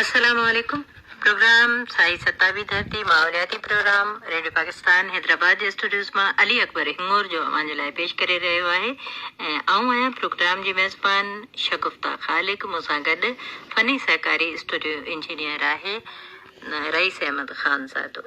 السلام عليڪم پروگرام سائين ستابي ڌرتي ماحولياتي پروگرام ريڊيو پاڪستان حيدرآباد جي اسٽوڊيوز مان علي اڪبر هڱور جو اوهان جي لاء پيش ڪري رهيو آهي ۽ آئون آهيان پروگرام جي ميزبان شگفتا خالق مون سان گڏ فني سهڪاري اسٽوڊيو انجنيئر آهي رئيس احمد خانزادو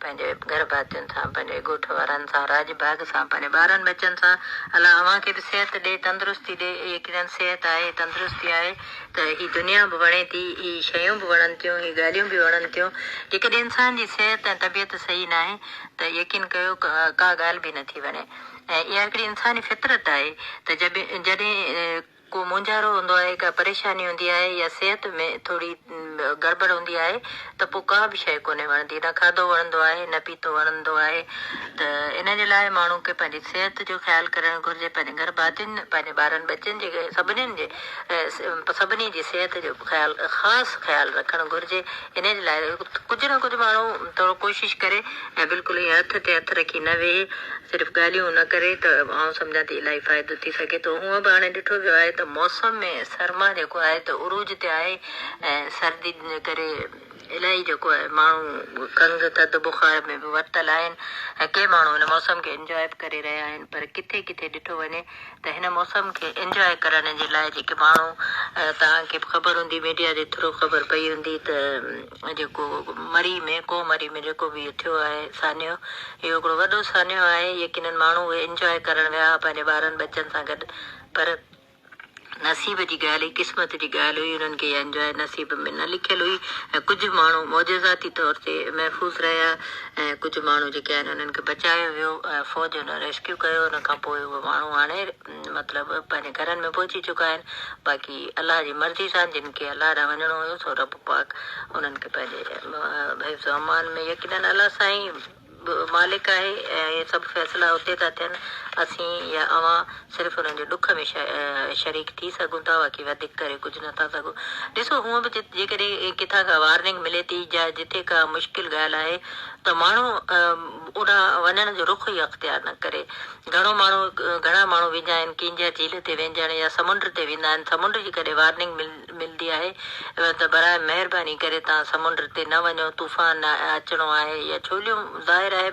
پنهنجي گهر ڀاتين سان، پنهنجي ڳوٺ وارن سان، راڄ ڀاڳ سان، پنهنجي ٻارن ٻچن سان، الله اوهان کي به صحت ڏي، تندرستي ڏي، يقينن صحت آهي، تندرستي آهي ته هي دنيا به وڻي ٿي، هي شيون به وڻن ٿيون، هي ڳالهيون به وڻن ٿيون، جيڪڏهن انسان جي صحت ۽ طبيعت صحيح ناهي ته يقين ڪيو ڪا ڳالهه به نٿي وڻي ۽ اها هڪڙي انساني فطرت آهي ته جڏهن ڪو مونجهارو هوندو آهي، ڪا پريشاني هوندي آهي يا صحت ۾ ٿوري گڙٻڙ هوندي آهي ته پوء ڪا به شيء ڪونهي وڻندي، نه کاڌو وڻندو آهي نه پيتو وڻندو آهي ته ان جي لاء ماڻهو کي پنهنجي صحت جو خيال ڪرڻ گهرجي، پنهنجي گهر ڀاتين، پنهنجي ٻارن ٻچن جي سڀني جي سڀني جي صحت جو خيال خاص خيال رکڻ گهرجي، ان جي لاء ڪجهه نه ڪجهه ماڻهو ٿورو ڪوشش ڪري. ۽ بلڪل ائين هٿ تي هٿ رکي نه ويهي صرف ڳالهيون نه ڪري ته آئون سمجهان ٿي الائي فائدو ٿي سگهي ٿو. هونء به هاڻي ڏٺو ويو آهي ته موسم ۾ سرما جيڪو آهي ته عروج تي آهي ۽ سردي ڪري الائي جيڪو آهي ماڻهو کنگهه ٿڌ بخار ۾ به ورتل آهن ۽ ڪي ماڻهو هن موسم کي انجواء به ڪري رهيا آهن پر ڪٿي ڪٿي ڏٺو وڃي ته هن موسم کي انجواء ڪرڻ جي لاء جيڪي ماڻهو توهان کي به خبر هوندي ميڊيا جي ٿرو خبر پئي هوندي ته جيڪو مري ۾ ڪو مري ۾ جيڪو به اهي ٿيو آهي سانحو اهو هڪڙو وڏو سانحو آهي يقينن ماڻهو اهي انجواء ڪرڻ ويا ها پنهنجي ٻارن ٻچن سان گڏ پر نصيب جي ڳالهه هئي قسمت جي ڳالهه هئي انهن کي اها انجواء نصيب ۾ نه لکيل هئي ۽ ڪجهه ماڻهو معجزاتي طور تي محفوظ رهيا ۽ ڪجهه ماڻهو جيڪي آهن انهن کي بچايو ويو ۽ فوج انهن ريسڪيو ڪيو ان کان پوء اهو ماڻهو هاڻي مطلب پنهنجي گهرن ۾ پهچي چڪا آهن، باقي الله جي مرضي سان جن کي الله ڏانهن وڃڻو هيو سو رب پاڪ انهن کي پنهنجي حفظ و امان ۾ يقينن الله سائين به مالڪ آهي ۽ اهي سڀ فيصلا اتي ٿا ٿين اسين يا اوهان صرف انهن جي ڏک ۾ شريڪ ٿي سگهون ٿا باقي وڌيڪ ڪري ڪجهه نه ٿا سگهون ڏسو هونء به جيڪڏهن ڪٿان ڪا وارننگ ملي ٿي جا جتي ڪا مشڪل ڳالهه آهي ته ماڻهو اوڏانهن وڃڻ جو رخ ئي اختيار نه ڪري گهڻو ماڻهو گهڻا ماڻهو ويندا آهن ڪينجهر جهيل تي وينجهڻ يا سمنڊ تي ويندا آهن سمنڊ جي ڪڏهن وارننگ ملندي آهي ته براهه مهرباني ڪري توهان سمنڊ تي نه وڃو طوفان اچڻو آهي يا ڇوليون ظاهر آهي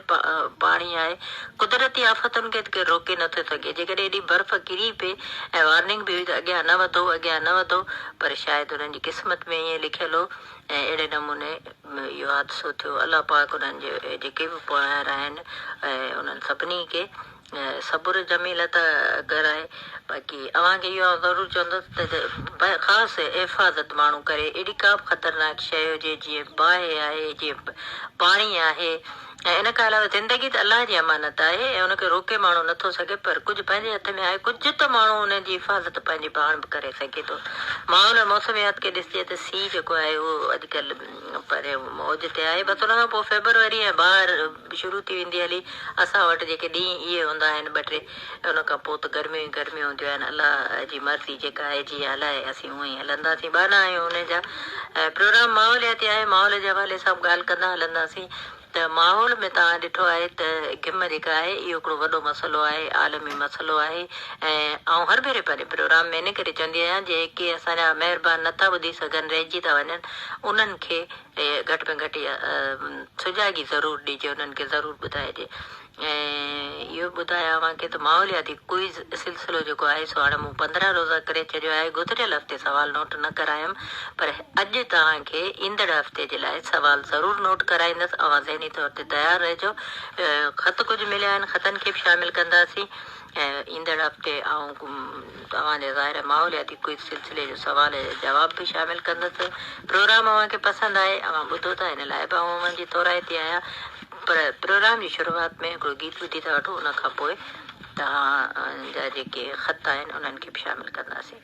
پاڻي آهي قدرتي آفتن کي ته ڪير روڪي نه ٿو سگهي جيڪڏهن ايڏي برف ڪري پئي ۽ وارننگ به هئي ته اڳيان نه وڌو اڳيان نه وڌو پر شايد انهن جي قسمت ۾ ائين لکيل هو ۽ اهڙي نموني ۾ اهو حادثو ٿيو الله پاڪ انهن جي جيڪي به پوئايار آهن انهن سڀني کي صبر جميل عطا ڪرائي باقي اوهان کي اهو ضرور چوندس ته خاص حفاظت ماڻهو ڪري اهڙي ڪا به خطرناڪ شيء هجي جيئن باهه آهي جيئن پاڻي آهي ۽ ان کان علاوه زندگي ته الله جي امانت آهي ۽ ان کي روڪي ماڻهو نه ٿو سگهي پر ڪجهه پنهنجي هٿ ۾ آهي ڪجهه ته ماڻهو ان جي حفاظت پنهنجي پاڻ به ڪري سگهي ٿو ماحول ۽ موسميات کي ڏسجي ته سي جيڪو آهي اهو اڄڪلهه پريون اوج تي آهي بس ان کان پوء فيبروري ۽ بهار شروع ٿي ويندي هلي اسان وٽ جيڪي ڏينهن اهي هوندا آهن ٻه ٽي ۽ ان کان پوء ته گرميون ئي گرميون هونديون آهن. الله جي مرضي جيڪا آهي، جيئن هلائي، اسين اونئين هلنداسين. ٻانها آهيون انهن جا ۽ پروگرام ماحولياتي آهي، ماحول جي حوالي سان به ڳالهه ڪندا هلنداسين ته ماحول ۾ توهان ڏٺو آهي ته گم جيڪا آهي، اهو هڪڙو وڏو مسئلو آهي، عالمي مسئلو آهي ۽ آئون هر ڀيري پنهنجي پروگرام ۾ ان ڪري چوندي آهيان، جيڪي اسان جا مهربان نٿا ٻڌي سگهن، رهجي ٿا وڃن، انهن کي گهٽ ۾ گهٽ اها سجاڳي ضرور ڏجي، انهن کي ضرور ٻڌائجي. ۽ اهو به ٻڌايان اوهان کي ته ماحولياتي ڪوئز سلسلو جيڪو آهي سو هاڻي مون پندرهن روزه ڪري ڇڏيو آهي گذريل هفتي سوال نوٽ نه ڪرايم پر اڄ توهان کي ايندڙ هفتي جي لاء سوال ضرور نوٽ ڪرائيندس اوهان ذهني طور تي تيار رهجو خط ڪجهه مليا آهن خطن کي به شامل ڪنداسين ۽ ايندڙ هفتي آئون توهان جي ظاهر ماحولياتي ڪوئز سلسلي جو سوال يا جواب به شامل ڪندس. پروگرام اوهان کي پسند آهي، اوهان ٻڌو ٿا ان لاء به آئون اوهان جي ٿورائتي آهيان پر پروگرام جي شروعات ۾ هڪڙو گيت ٻڌي ٿا وٺون ان کان پوء توهان جا جيڪي خط آهن انهن کي به شامل ڪنداسين.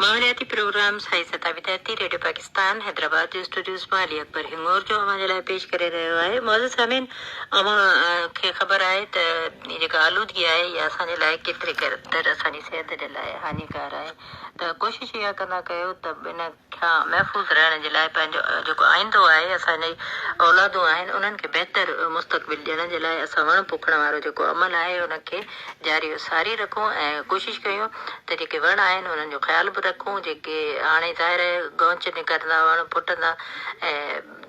ماحولياتي پروگرامز هائي سطح وديارتي ريڊيو پاڪستان حيدرآباد جي اسٽوڊيوز مان علي اڪبر هڱور جو اوهان جي لاء پيش ڪري رهيو آهي معزز سامعين اوهان کي خبر آهي ته هي جيڪا آلودگي آهي اها اسان جي لاء ڪيتري قدر اسان جي صحت جي لاء هاڃيڪار آهي ته ڪوشش اها ڪندا ڪيو ته ان کان محفوظ رهڻ جي لاء پنهنجو جيڪو آئيندو آهي، اسان جي اولادون آهن، انهن کي بهتر مستقبل ڏيڻ جي لاء اسان وڻ پوکڻ وارو جيڪو عمل آهي ان کي جاري و ساري رکون ۽ ڪوشش ڪيون ته جيڪي وڻ آهن انهن جو خيال به رکون جيڪي هاڻي ظاهر آهي گونچ نڪرندا وڻ ڦٽندا ۽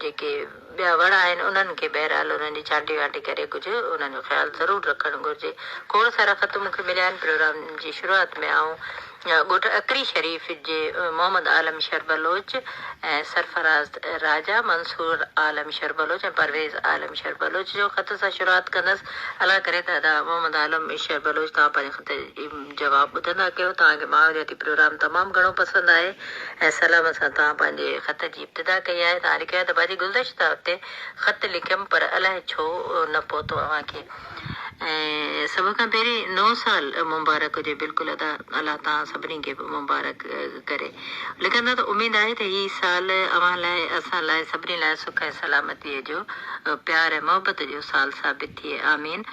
جيڪي ٻيا وڻ آهن انهن کي بهرحال انهن جي ڇانٽي وانٽي ڪري ڪجهه انهن جو خيال ضرور رکڻ گهرجي. کوڙ سارا خط مون کي مليا آهن. پروگرام جي شروعات ۾ آئون ڳوٺ اڪري شريف جي محمد عالم شر بلوچ ۽ سرفراز راجا، منصور عالم شر بلوچ ۽ پرويز عالم شر بلوچ جو خط سان شروعات ڪندس. الله ڪري ته ادا محمد عالم شر بلوچ توهان پنهنجي خط جي جواب ٻڌندا ڪيو. توهان کي ماحولياتي پروگرام تمام گهڻو پسند آهي ۽ سلامت سان توهان پنهنجي خط جي جدا ڪئي آهي ته آئون لکي آهي ته وري گلدشته تي خط لکيم پر الاهي ڇو نه پهتو اوهان کي ۽ سڀ کان پهرين نئون سال مبارڪ هجي بلڪل ادا الله توهان سڀني کي مبارڪ ڪري لکندا ته اميد آهي ته هي سال اوهان لاء اسان لاء سڀني لاء سک ۽ سلامتي جو پيار ۽ محبت جو سال ثابت ٿئي آمين.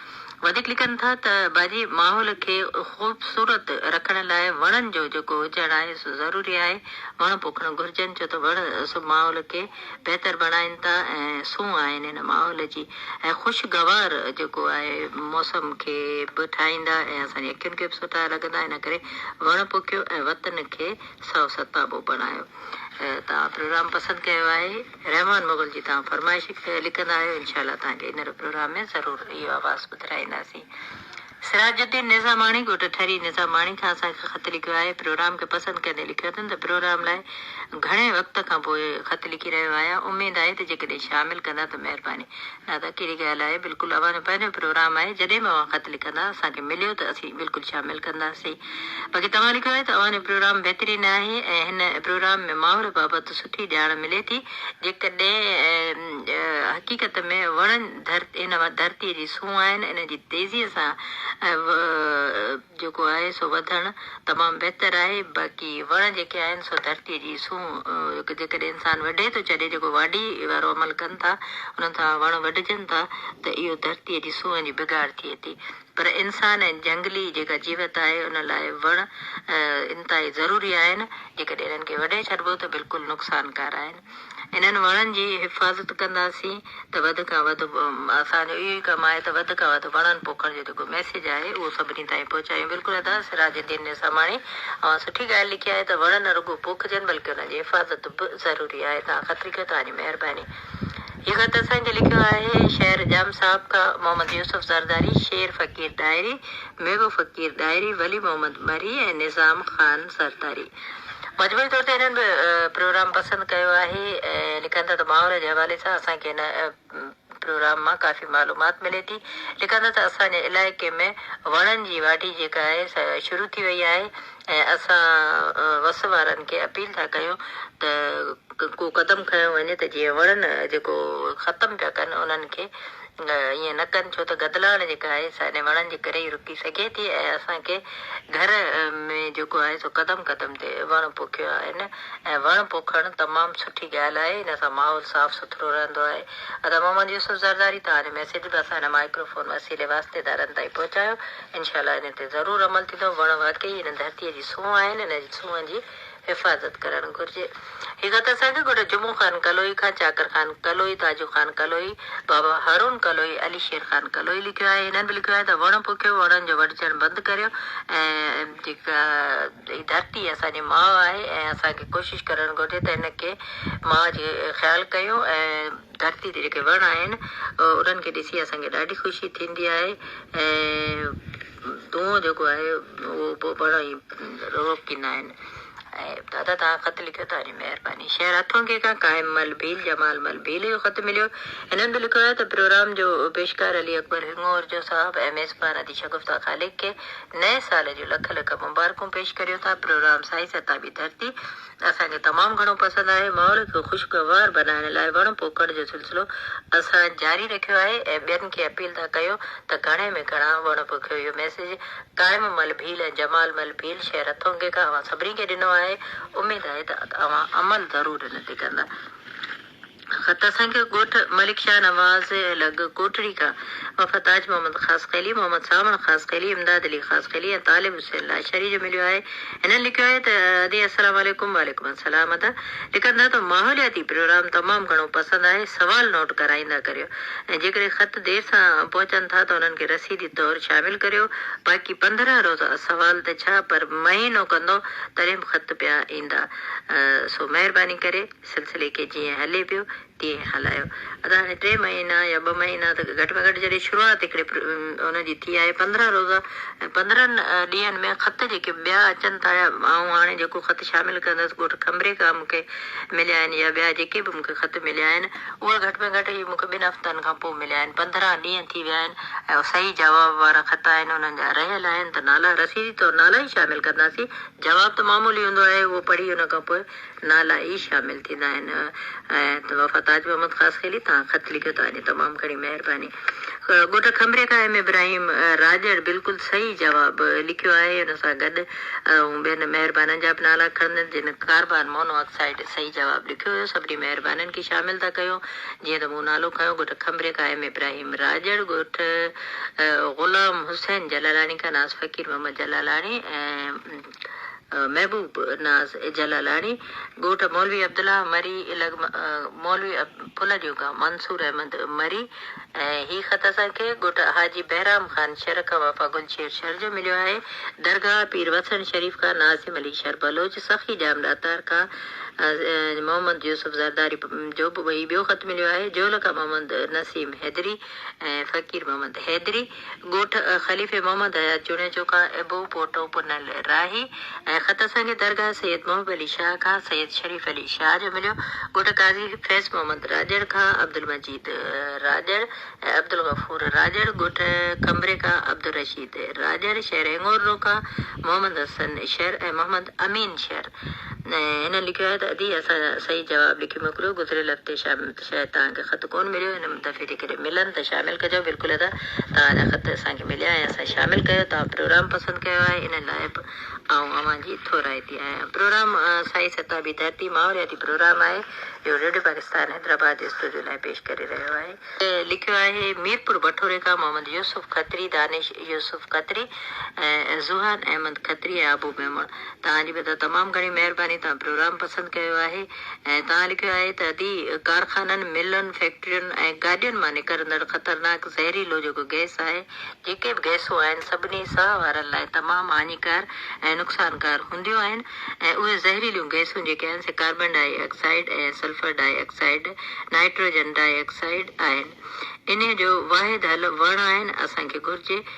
وڌيڪ لکن ٿا ته باجي ماحول کي خوبصورت رکڻ لاء وڻن جو جيڪو هجڻ آهي سو ضروري آهي، وڻ پوکڻ گهرجن ڇو ته وڻ سڀ ماحول کي بهتر بڻائين ٿا ۽ سون آهن هن ماحول جي ۽ خوشگوار جيڪو آهي موسم کي به ٺاهيندا ۽ اسان جي اکين کي به سٺا لڳندا ان ڪري وڻ پوکيو ۽ وطن کي سائو ستابو بڻايو. توهان پروگرام پسند ڪيو آهي. رحمان مغل جي توهان فرمائش لکندا آهيو انشاء الله توهان کي ايندڙ پروگرام ۾ ضرور اهو آواز ٻڌرائينداسين سراج الدين نظاماڻي ڳوٺ ٺري نظاماڻي کان اسان کي خط لکيو آهي پروگرام کي پسند ڪندي لکيو اٿن ته پروگرام لاء گهڻي وقت کان پوء خط لکي رهيو آهيان اميد آهي ته جيڪڏهن شامل ڪندا ته مهرباني نه ته ڪهڙي ڳالهه آهي بلڪل اوهان جو پنهنجو پروگرام آهي جڏهن به اوهان خط لکندا اسان کي مليو ته اسين بلڪل شامل ڪنداسين. باقي توهان لکيو آهي ته اوهان جو پروگرام بهترين آهي ۽ هن پروگرام ۾ ماحول بابت سٺي ڄاڻ ملي ٿي جيڪڏهن حقيقت ۾ وڻن هن ڌرتي جي سونهن آهن انهن جي تيزي سان جيڪو آهي سو وڌڻ تمام بهتر آهي باقي وڻ جيڪي آهن سو ڌرتي جي سونهن جيڪڏهن انسان وڍي ٿو ڇڏي جيڪو واڍي وارو عمل ڪن ٿا انهن سان وڻ وڍجن ٿا ته اهو ڌرتي جي سونهن جي بگاڙ ٿئي ٿي پر انسان ۽ جهنگلي جيڪا جيوت آهي ان لاء وڻ انتهائي ضروري آهن، جيڪڏهن انهن کي وڍي ڇڏبو ته بلڪل نقصانڪار آهن. انهن وڻن جي حفاظت ڪنداسين ته وڌ کان وڌ اسان جو اهو ئي ڪم آهي ته وڌ کان وڌ وڻن پوکڻ جو جيڪو ميسيج آهي اهو سڀني تائين پهچايون. بلڪل ادا سراج الدين نظاماڻي اوهان سٺي ڳالهه لکي آهي ته وڻ نه رڳو پوکجن بلڪه انهن جي حفاظت به ضروري آهي تان خطريڪ توهان جي مهرباني. هي خط اسان کي لکيو آهي شهر ڄام صاحب کان محمد يوسف زرداري، شير فقير ڏاهري، ميگهو فقير ڏاهري، ولي محمد مري ۽ نظام خان زرداري. مجموعي طور تي هنن به پروگرام پسند ڪيو آهي ۽ لکن ٿا ته ماحول جي حوالي سان اسان کي هن پروگرام مان ڪافي معلومات ملي ٿي. لکن ٿا ته اسان جي علائقي ۾ وڻن جي واڍي جيڪا آهي سا شروع ٿي وئي آهي ۽ اسان وس وارن کي اپيل ٿا ڪيون ته ڪو قدم کنيو وڃي ته جيئن وڻن جيڪو ختم پيا ڪن انهن کي ائين نه ڪن ڇو ته گدلاڻ جيڪا آهي سا انهن وڻن جي ڪري ئي رڪي سگهي ٿي ۽ اسان کي گهر ۾ جيڪو آهي سو قدم قدم تي وڻ پوکيو آهن ۽ وڻ پوکڻ تمام سٺي ڳالهه آهي ان سان ماحول صاف سٿرو رهندو آهي ادا محمد يوسف زرداري توهان جو ميسيج به اسان هن مائڪرو فون وسيلي واسطيدارن تائين پهچايو. انشاء الله ان تي ضرور عمل ٿيندو. وڻ واقعي هن ڌرتيء جي سونهن آهن، انهن جي سونهن جي حفاظت ڪرڻ گهرجي. هي خط اسانکي ڳوٺ جمعو خان ڪلوئي کان چاڪر خان ڪلوئي، تاجو خان ڪلوئي، بابا هارون ڪلوئي، علي شير خان ڪلوئي لکيو آهي. هنن به لکيو آهي ته وڻ پوکيو، وڻن جو وڍجڻ بند ڪريو ۽ جيڪا هي ڌرتي اسان جي ماء آهي ۽ اسانکي ڪوشش ڪرڻ گهرجي ته هن کي ماء جي خيال ڪيون ۽ ڌرتي تي جيڪي وڻ آهن انهن کي ڏسي اسان کي ڏاڍي خوشي ٿيندي آهي ۽ دونهون جيڪو آهي اهو به وڻ ائين روڪيندا آهن ۽ دادا توهان خط لکيو توهان جي مهرباني شهر هٿون کي کان قائم مل ڀيل جمال مل ڀيل جو خط مليو هنن به لکيو آهي ته پروگرام جو پيشڪار علي اڪبر هڱور جو صاحب ۽ ميزبان ادي شگفتا خالق کي نئين سال جون لک لک مبارڪون پيش ڪريو ٿا پروگرام سائين ستابي ڌرتي اسان کي تمام گهڻو پسند آهي. ماحول کي خوشگوار بنائڻ لاء وڻ پوکڻ جو سلسلو اسان جاري رکيو آهي ۽ ٻين کي اپيل ٿا ڪيون ته گهڻي ۾ گهڻا وڻ پوکيو. اهو ميسيج قائم مل ڀيل ۽ جمال مل ڀيل شهر هٿونگي کان اوهان سڀني کي ڏنو آهي. اميد آهي ته اوهان عمل ضرور ان تي ڪندا. خط اسان کي ڳوٺ ملڪ شاهه نواز لڳ ڪوٽڙي کان وفا تاج محمد خاصخيلي، محمد ساوڻ خاصخيلي، امداد علي خاصخيلي ۽ طالب حسين لاشاري جو مليو آهي. هنن لکيو آهي ته ادي السلام عليڪم وعليڪم السلام ادا لکن ٿا ته ماحولياتي پروگرام تمام گهڻو پسند آهي سوال نوٽ ڪرائيندا ڪريو ۽ جيڪڏهن خط دير سان پهچن ٿا ته انهن کي رسيدي طور شامل ڪريو باقي پندرهن روزا سوال ته ڇا پر مهينو ڪندو تڏهن به خط پيا ايندا سو مهرباني ڪري سلسلي کي جيئن هلي پيو تيئن هلايو. ادا هاڻي ٽي مهينا يا ٻه مهينا ته گهٽ ۾ گهٽ جڏهن شروعات هڪڙي ان جي ٿي آهي پندرهن روزا ۽ پندرهن ڏينهن ۾ خط جيڪي ٻيا اچن ٿا يا آئون هاڻي جيڪو خط شامل ڪندس ڳوٺ کنڀري کان مون کي مليا آهن يا ٻيا جيڪي به مون کي خط مليا آهن اهي گهٽ ۾ گهٽ هي مون کي ٻن هفتن کان پوء مليا آهن پندرهن ڏينهن ٿي ويا آهن ۽ صحيح جواب وارا خط آهن انهن جا رهيل آهن ته نالا رسيدي طور نالا ئي شامل ڪنداسين جواب ته معمولي هوندو آهي اهو پڙهي ان کان پوء نالا ئي شامل ٿيندا آهن ۽ وفا تاج محمد خاصخيلي تان خط لکيو ٿا وڃي تمام گهڻي مهرباني ڳوٺ کنڀري کان ايم ابراهيم راڄڙ بلڪل صحيح جواب لکيو آهي ان سان گڏ آئون ٻين مهربانن جا به نالا کڻندس جن ڪاربان مونو آڪسائيڊ صحيح جواب لکيو هيو سڀني مهربانن کي شامل ٿا ڪيون جيئن ته مون نالو کنيو ڳوٺ کنڀري کان ايم ابراهيم راڄڙ ڳوٺ غلام حسين جلالاڻي کان ناز فقير محمد جلالاڻي ۽ محبوب ناز جلالاڻي، ڳوٺ مولوي عبدالله مري الڳ مولوي ڦلڏيون کان منصور احمد مري ۽ هي خط اسان کي ڳوٺ حاجي بهرام خان شر کان وفا گل شير شر جو مليو آهي. درگاهه پير وسڻ شريف کان ناظم علي شر بلوچ، سخي ڄام ڏاتار کان محمد يوسف زرداري جو به هي ٻيو خط مليو آهي. جهول کان محمد نسيم حيدري ۽ فقير محمد حيدري. ڳوٺ خليفي محمد حيات جوڻيجو کان ابو پوٽو پنل راهي ۽ خط اسان کي درگاهه سيد محب علي شاهه کان سيد شريف علي شاهه جو مليو. ڳوٺ قاضي فيض محمد راڄڙ کان عبدالمجيد راڄڙ ۽ عبدالغفور راڄڙ، ڳوٺ کنڀري کان عبدالرشيد راڄڙ، شهر هڱوررو کان محمد حسن شر ۽ محمد امين شر. هن لکيو آهي ته ادي اسان صحيح جواب لکي موڪليو گذريل هفتي شام شايد توهان کي خط ڪون مليو هن دفعي جيڪڏهن ملن ته شامل ڪجو. بلڪل ادا توهان جا خط اسان کي مليا ۽ اسان شامل ڪيو توهان پروگرام پسند ڪيو آهي ان لاء به آئون اوهان جي ٿورائتي آهيان پروگرام سائي ستابي ڌرتي ماحولياتي پروگرام آهي جو ريڊيو پاڪستان حيدرآباد جي اسٽوڊيو لاء پيش ڪري رهيو آهي. لکيو آهي ميرپور بٺوري کان محمد يوسف کتري دانش يوسف کتري ۽ زوهان احمد کتري ۽ ابو ميمڻ توهان جي به ادا تمام گهڻي مهرباني توهان پروگرام پسند ڪيو آهي. ۽ تان لکيو آهي ته ادي ڪارخانن، ملن، فيڪٽرين ۽ گاڏين مان نڪرندڙ خطرناڪ زهريلو جيڪو گئس آهي، جيڪي به گئسون آهن سڀني ساهه وارن لاء تمام هاڃيڪار ۽ نقصانڪار هونديون آهن ۽ اهي زهريليون گئسون جيڪي آهن سي carbon dioxide ۽ sulphur dioxide, nitrogen dioxide, آهن. انهي جو واحد حل وڻ آهن، اسان کي گهرجي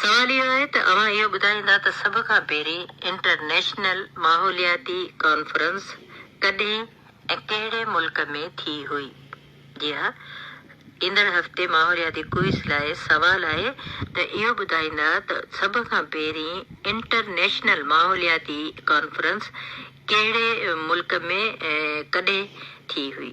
سوال اهو آهي ته اوهان اهو ٻڌائيندا ته سڀ کان پهرين انٽرنيشنل ماحولياتي ڪانفرنس ڪڏهن ۽ ڪهڙي ملڪ ۾ ٿي هئي؟ جي ها. ايندڙ هفتي ماحولياتي ڪوئز لاء سوال آهي ته اهو ٻڌائيندا ته سڀ کان پهرين انٽرنيشنل ماحولياتي ڪانفرنس ڪهڙي ملڪ ۾ ڪڏهن ٿي هئي؟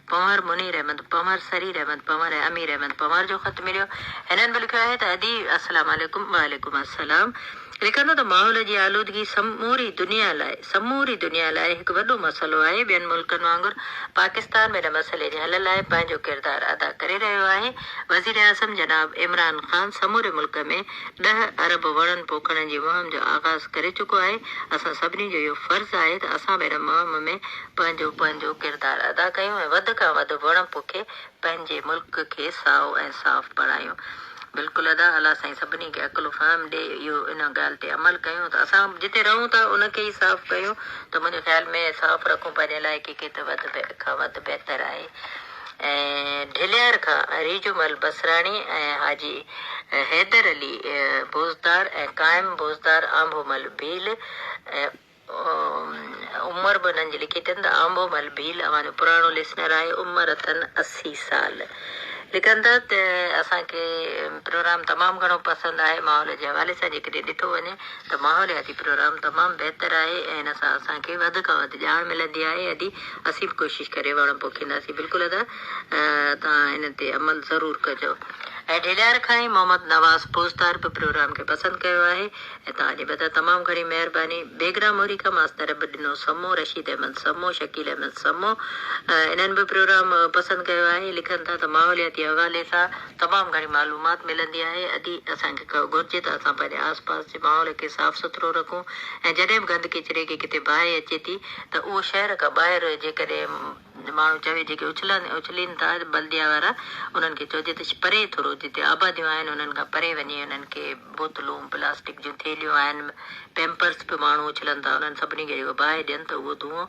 پنهور منير احمد پنهور، سرير احمد پنهور ۽ امير احمد پنهور جو خط مليو. هنن به لکيو آهي ته ادي السلام عليڪم وعليڪم السلام لکن ٿو ته ماحول جي آلودگي سموري دنيا لاء سموري دنيا لاء هڪ وڏو مسئلو آهي ٻين ملڪن وانگر پاڪستان به ان مسئلي جي حل لاء پنهنجو ڪردار ادا ڪري رهيو آهي وزيراعظم جناب عمران خان سموري ملڪ ۾ ڏهه ارب وڻن پوکڻ جي مهم جو آغاز ڪري چڪو آهي اسان سڀني جو اهو فرض آهي ته اسان به ان مهم ۾ پنهنجو پنهنجو ڪردار ادا ڪيون ۽ وڌ کان وڌ وڻ پوکي پنهنجي ملڪ کي سائو ۽ صاف بڻايون. بلڪل ادا الله سائين سڀني کي عقل و فهم ڏي اهو ان ڳالهه تي عمل ڪيون ته اسان جتي رهون ٿا ان کي ئي صاف ڪيون ته منهنجي خيال ۾ صاف رکون پنهنجي علائقي کي ته وڌ کان وڌ بهتر آهي ۽ ڍليار کان ريجومل بصراڻي ۽ حاجي حيدر علي بوزدار ۽ قائم بوزدار آنڀومل ڀيل ۽ عمر به انهن جي لکي اٿن ته آنبو مل ڀيل اوهان جو پراڻو لسنر آهي عمر اٿن اسي سال لکن ٿا ته اسان کي پروگرام تمام گهڻو پسند آهي ماحول جي حوالي سان جيڪڏهن ڏٺو وڃي ته ماحولياتي پروگرام تمام بهتر آهي ۽ ان سان اسان کي وڌ کان وڌ ڄاڻ ملندي آهي ادي اسين به ڪوشش ڪري وڻ پوکينداسين بلڪل ادا توهان ان تي عمل ضرور ڪجو ۽ ڍليار کان ئي محمد نواز پوزتار به پروگرام کي پسند ڪيو آهي ۽ توهان جي بدران تمام گهڻي مهرباني بيگ رام امريڪا ماستر به ڏنو سمو رشيد احمد سمو شڪيل احمد سمو انهن به پروگرام پسند ڪيو آهي لکن ٿا ته ماحولياتي حوالي سان تمام گهڻي معلومات ملندي آهي ادي اسان کي گهرجي ته اسان پنهنجي آس پاس جي ماحول کي صاف سٿرو رکون ۽ جڏهن به گند ڪچري کي ڪٿي باهه اچي ٿي ته اهو شهر کان ٻاهر جيڪڏهن ماڻهو چوي جيڪي اڇلن اڇلين ٿا بلديا وارا انهن کي چئجي ته پري ٿورو جتي آباديون آهن انهن کان پري وڃي انهن کي بوتلون پلاسٽڪ جون ٿيلهيون آهن پيمپرس به ماڻهو اڇلن ٿا انهن سڀني کي جيڪو باهه ڏين ته اهو دونهون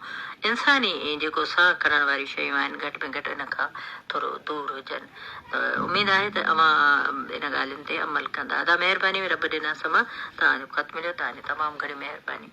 انساني جيڪو ساهه کڻڻ واريون شيون آهن گهٽ ۾ گهٽ ان کان ٿورو دور هجن ته اميد آهي ته اوهان ان ڳالهين تي عمل ڪندا ادا مهرباني رب ڏنا سما توهان جو خط مليو توهان جي تمام گهڻي مهرباني.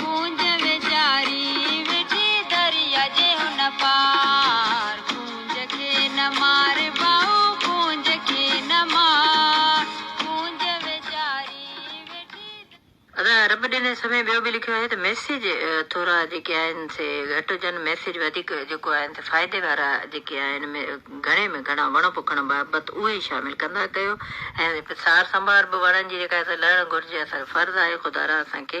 ڪونج ويچاري ويٺي دريا جي هن پار ڪونج کي نه مار ڀائو ڪونج کي نه مار ڪونج ويچاري ويٺي دريا. ادا رب ڏني سمي ٻيو به لکيو آهي ته ميسيج ٿورا جيڪي آهن سي گهٽ هجن ميسيج وڌيڪ جيڪو آهن سي فائدي وارا جيڪي آهن م گهڻي ۾ گهڻا وڻ پوکڻ بابت اهي شامل ڪندا ڪيو ۽ سار سنڀار به وڻن جي جيڪا آهي سي لهڻ گهرجي اسان جو فرض آهي خدا را اسان کي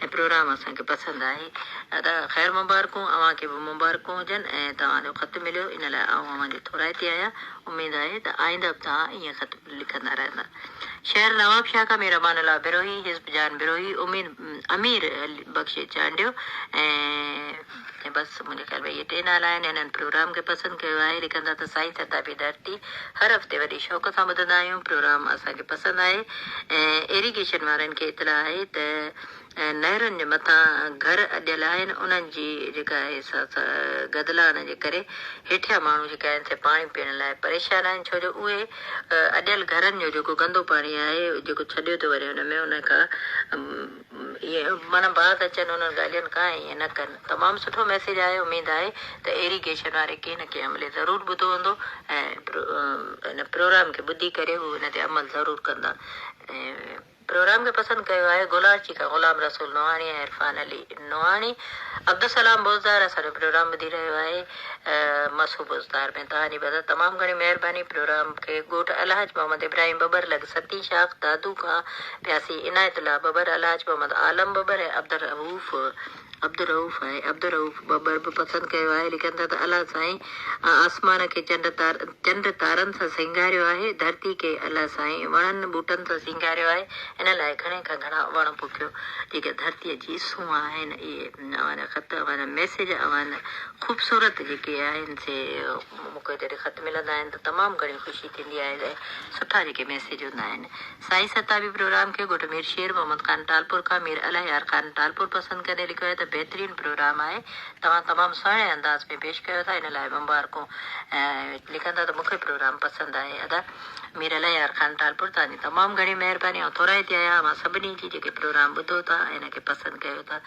هي پروگرام اسان کي پسند آهي ادا خير مبارڪون اوهان کي به مبارڪون هجن ۽ توهان جو خط مليو ان لاء آئون اوهان جي ٿورائتي آهيان اميد آهي ته آئنده به توهان ائين خط لکندا رهندا شهر نوابشاهه کان مير امان الله بروهي حزب جان بروهي امير علي بخش چانڊيو ۽ ۽ بس منهنجي خيال ۾ اهي ٽي نالا آهن هنن پروگرام کي پسند ڪيو آهي لکندا ته سائين سرتابي ڌرتي هر هفتي وڏي شوق سان ٻڌندا آهيون پروگرام اسان کي پسند آهي ۽ ايريگيشن وارن کي اطلاع آهي ته نهرن جي مٿان گهر اڏيل آهن انهن جي جيڪا آهي سا گدلان جي ڪري هيٺيان ماڻهو جيڪا آهن سي پاڻي پيئڻ لاء پريشان آهن ڇو جو اهي اڏيل گهرن جو جيڪو گندو پاڻي آهي جيڪو ڇڏيو ٿو وڃي ان ۾ ان کان اهي معنيٰ بعد اچن انهن ڳالهين کان ۽ ائين نه ڪن. تمام سٺو ميسيج آهي اميد آهي ته ايريگيشن واري ڪنهن نه ڪنهن عملي ضرور ٻڌو هوندو ۽ هن پروگرام کي ٻڌي ڪري هو ان تي عمل ضرور ڪندا پروگرام کي پسند ڪيو آهي گولاڙچي کان غلام رسول نوحاڻي ۽ عرفان علي نوحاڻي عبدالسلام بوزدار اسان جو پروگرام ٻڌي رهيو آهي. مصحوب استار ۾ توهانجي مدد تمام گهڻي مهرباني پروگرام کي ڳوٺ الحاج محمد ابراهيم ٻٻر لڳ ستين شاخ دادو کان پياسي عنايت الله ٻٻر الحاج محمد عالم ٻٻر ۽ عبدالرئوف عبدالرئوف ۽ عبدالرئوف ٻٻر به پسند ڪيو آهي لکن ٿا ته الله سائين آسمان کي چنڊ چنڊ تارن سان سينگاريو آهي ڌرتي کي الله سائين وڻن ٻوٽن سان سينگاريو آهي ان لاء گهڻي کان گهڻا وڻ پوکيو جيڪي ڌرتي جي سونهن آهن اهي اوهان خط اوهان ميسيج اوهان خوبصورت جيڪي آهن سي مون کي جڏهن خط ملندا آهن ته تمام گهڻي خوشي ٿيندي آهي ۽ سٺا جيڪي ميسيج هوندا آهن سائين ستابي پروگرام کي گهٽ مير شير محمد خان ٽالپور کان مير الهيار خان ٽالپور پسند ڪندي لکيو آهي ته بهترين پروگرام آهي توهان تمام سهڻي انداز ۾ پيش ڪيو ٿا ان لاء مبارڪون ۽ لکندا ته مون کي پروگرام پسند آهي ادا مير الهيار خان ٽالپر توهان جي تمام گهڻي مهرباني ۽ ٿورائتي آهي اوهان سڀني جي جيڪي پروگرام ٻڌو ٿا ۽ ان کي پسند ڪيو ٿا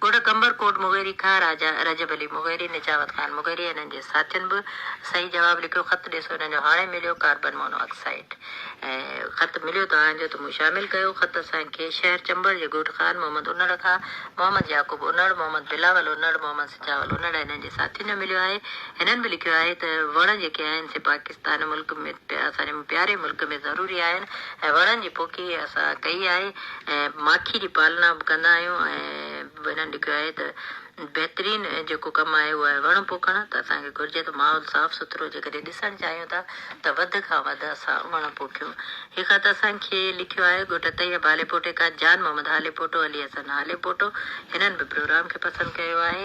ڳوٺ قمبر ڪوٽ مغيري کان راجا رجب علي مغيري نجاوت خان مغيري ۽ انهن جي ساٿين به صحيح جواب لکيو خط ڏسو انهن جو هاڻي مليو ڪاربن مونو آڪسائيڊ خط مليو توهان جو ته مون شامل ڪيو خط اسان کي شهر چمبڙ جي ڳوٺ خان محمد انڙ کان محمد يعقوب انڙ محمد بلاول انڙ محمد سجاول انڙ ۽ انهن جي ساٿين جو مليو آهي هنن به لکيو آهي ته وڻ جيڪي آهن سي پاڪستان ملڪ ۾ اسان جي پياري ملڪ ۾ ضروري آهن ۽ وڻن جي پوکي اسان ڪئي آهي ۽ ماکي جي پالنا به ڪندا آهيون ۽ هنن لکيو آهي ته بهترين جيڪو ڪم آهي اهو آهي وڻ پوکڻ ته اسان کي گهرجي ته ماحول صاف سٿرو جيڪڏهن ڏسڻ چاهيون ٿا ته وڌ کان وڌ اسان وڻ پوکيون هي خط اسان کي لکيو آهي ڳوٺ طيب هاليپوٽي کان جان محمد هاليپوٽو علي حسن هاليپوٽو هنن به پروگرام کي پسند ڪيو آهي.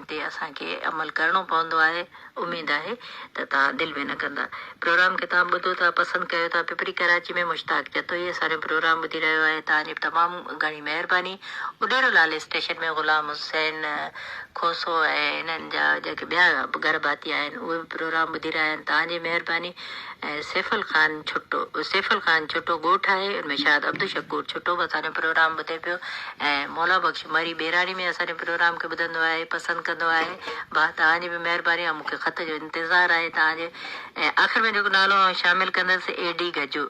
تي اسان کي عمل ڪرڻو پوندو آهي اميد آهي ته توهان دل ۾ نه ڪندا پروگرام کي توهان ٻڌو ٿا پسند ڪيو ٿا پپري ڪراچي ۾ مشتاق جتوئي اسانجو پروگرام ٻڌي رهيو آهي توهان جي تمام گهڻي مهرباني اڏيرو لال اسٽيشن ۾ غلام حسين کوسو ۽ انهن جا جيڪي ٻيا گهر ڀاتي آهن اهي به پروگرام ٻڌي رهيا آهن توهان جي مهرباني ۽ سيفل خان ڇٽو سيفل خان ڇٽو ڳوٺ آهي ان ۾ شاهد عبدالشڪور ڇٽو به اسان جو پروگرام ٻڌي پيو ۽ مولا بخش مري ٻهراڙي ۾ اسان جي پروگرام کي ٻڌندو آهي پسند ڪندو آهي ڀاء توهان جي به مهرباني آهي مون کي خط جو انتظار آهي توهان جي ۽ آخر ۾ جيڪو نالو آئون شامل ڪندس اي ڊي گجو